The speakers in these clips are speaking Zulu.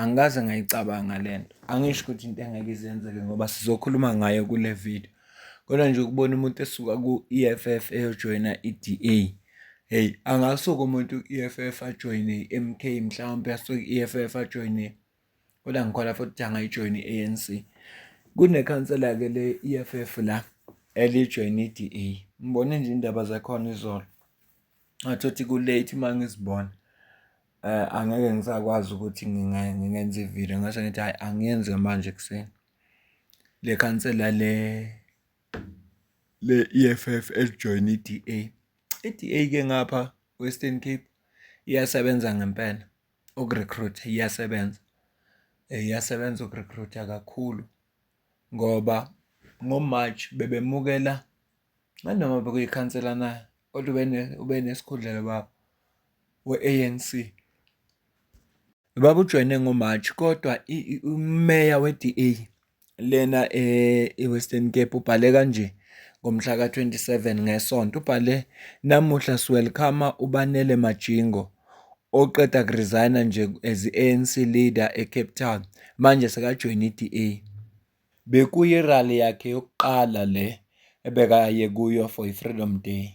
Angikaze ngayicabanga le nto, angisho ukuthi into engeke ize yenzeke ngoba sizokhuluma ngayo kule video. Kodwa nje ukubona umuntu esuka ku-E_F_F eyojoyina i-D_A, hheyi angasuka umuntu ku-E_F_F ajoyine i-M_K mhlawumpe asuke i-E_F_F ajoyine kodwa ngikholwa futhi ukuthi angayijoyina i-A_N_C. Kunekhansela-ke le E_F_F la elijoyina i-D_A, ngibone nje iy'ndaba zakhona izolo, ngathi othi ku-late uma ngizibona. Angeke ngisakwazi ukuthi ngingenza ividiyo ngase ngithi hhayi angiyenzi-ke manje ekuseni. Le khansela le le-E_F_F elijoyine i-D_A, i-D_A-ke ngapha ko-Eastern Cape iyasebenza ngempela uku-recruit-a, iyasebenza. Iyasebenza uku-recruit-a kakhulu ngoba ngo-March bebemukela nganoma bekuyikhansela na kodwa ube nesikhundlelo baba. we-ANC babujoyine ngoMarch kodwa umeya we-DA lena e-Western Cape ubhale kanje ngomhla ka-27 ngeSonto ubhale namuhla siwelkhama uBanele Majingo oqeda kuresigna nje as i-ANC leader eCape Town manje sekajoyina i-DA. Bekuyirally yakhe yokuqala le ebekaye kuyo for i-Freedom Day.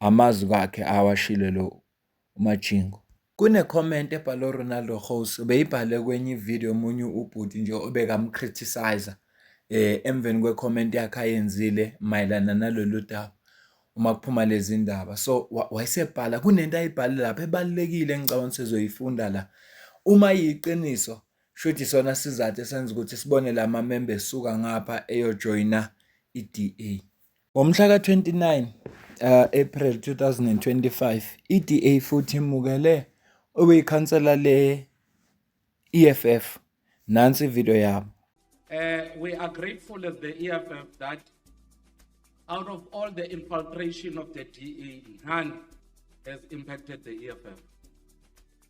amazwi wakhe awashilo lo uMajingo. Kune comment ebhalwe uRonaldo Ghost ubeyibhale kwenye ivideo omunye ubhuti nje obekamcriticizer eh emveni kwe comment yakhe ayenzile mayelana nalolu daba uma kuphuma lezi ndaba so wayesebhala kunento ayibhale lapha ebalekile engicabanga sizoyifunda la uma yiqiniso shuthi sona sizathu esenza ukuthi sibone lama member esuka ngapha eyojoyina iDA Ngomhla ka-29 April 2025, iDA futhi imukele okuyikhansela le-EFF. Nansi ividiyo yabo. We are grateful as the EFF that out of all the infiltration of the DA, none has impacted the EFF.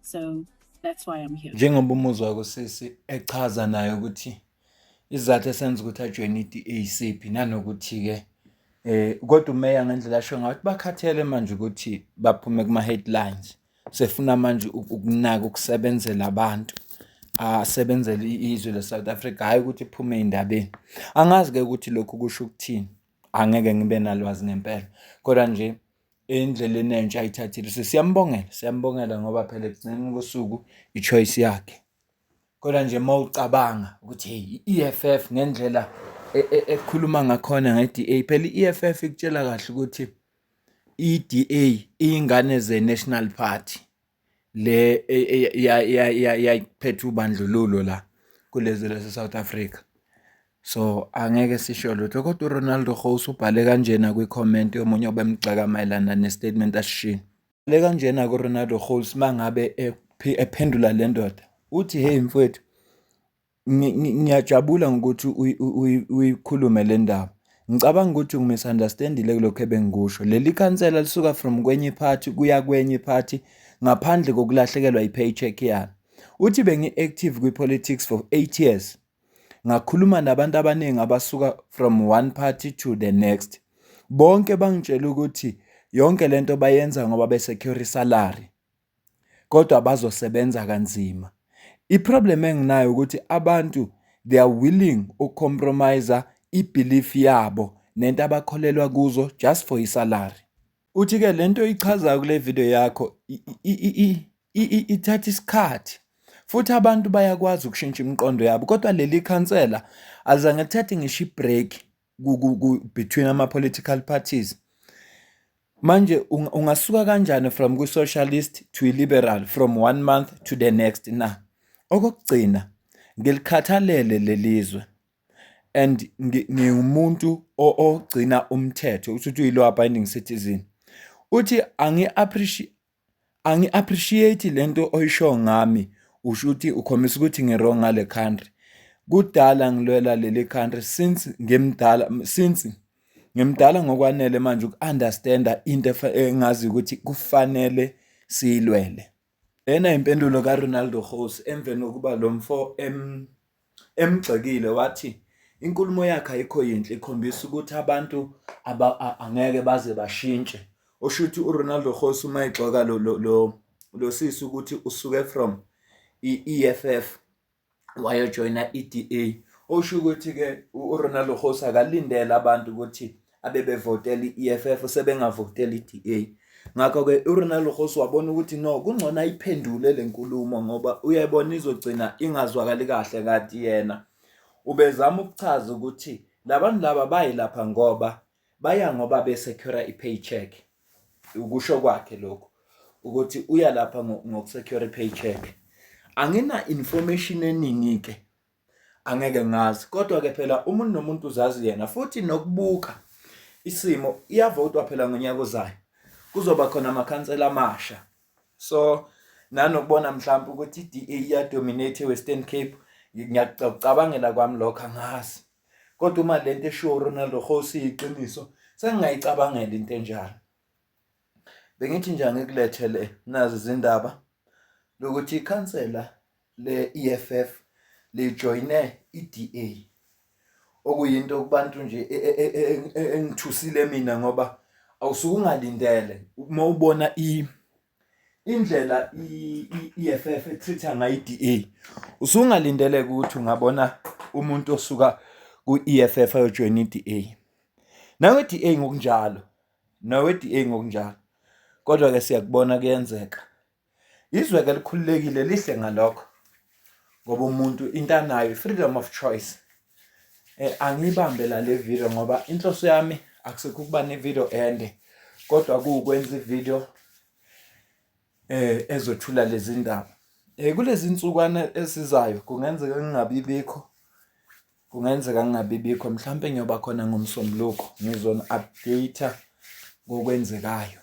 So that's why I'm here. Njengoba umuzwa kusisi echaza naye ukuthi izathu esenza ukuthi ajoyine i-DACP nanokuthi ke eh kodwa umeya ngendlela asho ngathi bakhathele manje ukuthi baphume kuma headlines sefuna manje ukunaka ukusebenzela abantu asebenzele izwe le South Africa hayi ukuthi iphume indabeni angazi ke ukuthi lokhu kusho ukuthini angeke ngibe nalwazi ngempela kodwa nje endleleni entsha ayithathile so siyambongela siyambongela ngoba phela ekugcineni kosuku i-choice yakhe kodwa nje uma ucabanga ukuthi hey i-EFF ngendlela e, e, ekhuluma ngakhona nge-DA phela i-EFF ikutshela kahle ukuthi i-DA iyingane ze-National Party le yayiphethe ubandlululo la kulezi lase-South Africa. So, angeke sisho lutho kodwa uRonaldo Rose ubhale kanjena kwi-comment yomunye obemgxeka mayelana ne-statement asishilo. Le kanjena kuRonaldo Rose uma ngabe ephendula le ndoda uthi, hheyi mfwethu Ngiyajabula ngokuthi uyikhulume le ndaba. Ngicabanga ukuthi ungi-misunderstand-ile kulokhu ebengikusho. Leli khansela lisuka from kwenye i-party kuya kwenye i-party ngaphandle kokulahlekelwa i-pay check yalo. Uthi bengi-active kwi-politics for eight years. Ngakhuluma nabantu abaningi abasuka from one party to the next. Bonke bangitshela ukuthi yonke le nto bayenza ngoba be-secure isalary. kodwa bazosebenza kanzima. I-problem enginayo ukuthi abantu they are willing uku-compromise i-belief yabo nento abakholelwa kuzo just for i-salary. Uthi-ke le nto ichazayo kule video yakho ithatha isikhathi futhi abantu bayakwazi ukushintsha imiqondo yabo kodwa leli khansela azange lithathe ngisho i-break between ama-political parties. Manje ungasuka kanjani from kwi-socialist to i-liberal from one month to the next na? Okokugcina, ngilikhathalele lelizwe and ngiwumuntu ogcina umthetho ukuthi uthi uyi-law abiding citizen. Uthi angi-appreciate angi-appreciate le nto oyisho ngami usho ukuthi ukhombisa ukuthi ngi-wrong ngale country kudala ngilwela leli country since ngimdala since ngimdala ngokwanele manje uku-understanda into engazi ukuthi kufanele siyilwele lena impendulo kaRonaldo Rose emveni kokuba lo mfo em emgxekile wathi inkulumo yakhe ayikho yinhle ikhombisa ukuthi abantu angeke baze bashintshe osho ukuthi uRonaldo Khosi uma egxoka lo lo lo sisi ukuthi usuke from i-EFF wayojoyina i-DA osho ukuthi-ke uRonaldo Khosi akalindele abantu ukuthi abebevotela i-EFF sebengavotela i-DA ngakho-ke uronald rose wabona ukuthi no kungcono ayiphendule le nkulumo ngoba uyebona izogcina ingazwakali kahle kati yena ubezama ukuchaza ukuthi labantu laba bayilapha ngoba baya ngoba besecura i-paycheck ukusho kwakhe lokhu ukuthi uya lapha ngokusecura i-paycheck angina-information eningi-ke angeke ngazi kodwa ke phela umuntu nomuntu uzazi yena futhi nokubuka isimo iyavotwa phela ngonyaka ozayo kuzoba khona amakhansela amasha so nanokubona mhlawumbe ukuthi i-DA iyadominate e-Western Cape ngiyakucabangela kwami lokho angazi kodwa uma lento eshiwo uRonald Khosi iqiniso sengingayicabangela into enjalo bengithi nje angikulethele nazi izindaba lokuthi ikhansela le-EFF lijoyine i-DA okuyinto kubantu nje e, e, e, engithusile mina ngoba awusuke ungalindele uma ubona i indlela i-EFF etreatha ngayo i-DA usungalindele ukuthi ungabona umuntu osuka ku-EFF ayojoyina i-DA nawe i-DA ngokunjalo nawe i-DA ngokunjalo kodwa ke siyakubona kuyenzeka Izwe-ke elikhululekile lihle ngalokho ngoba umuntu into anayo i-freedom of choice eh, angiyibambe la le video ngoba inhloso yami akusekho ukuba ne-video ende kodwa kuwukwenza i-video eh ezothula lezi ndaba eh kulezi nsukwana esizayo kungenzeka ngingabibikho kungenzeka ngingabibikho mhlawumbe ngiyoba khona ngomsombuluko ngizona update ngokwenzekayo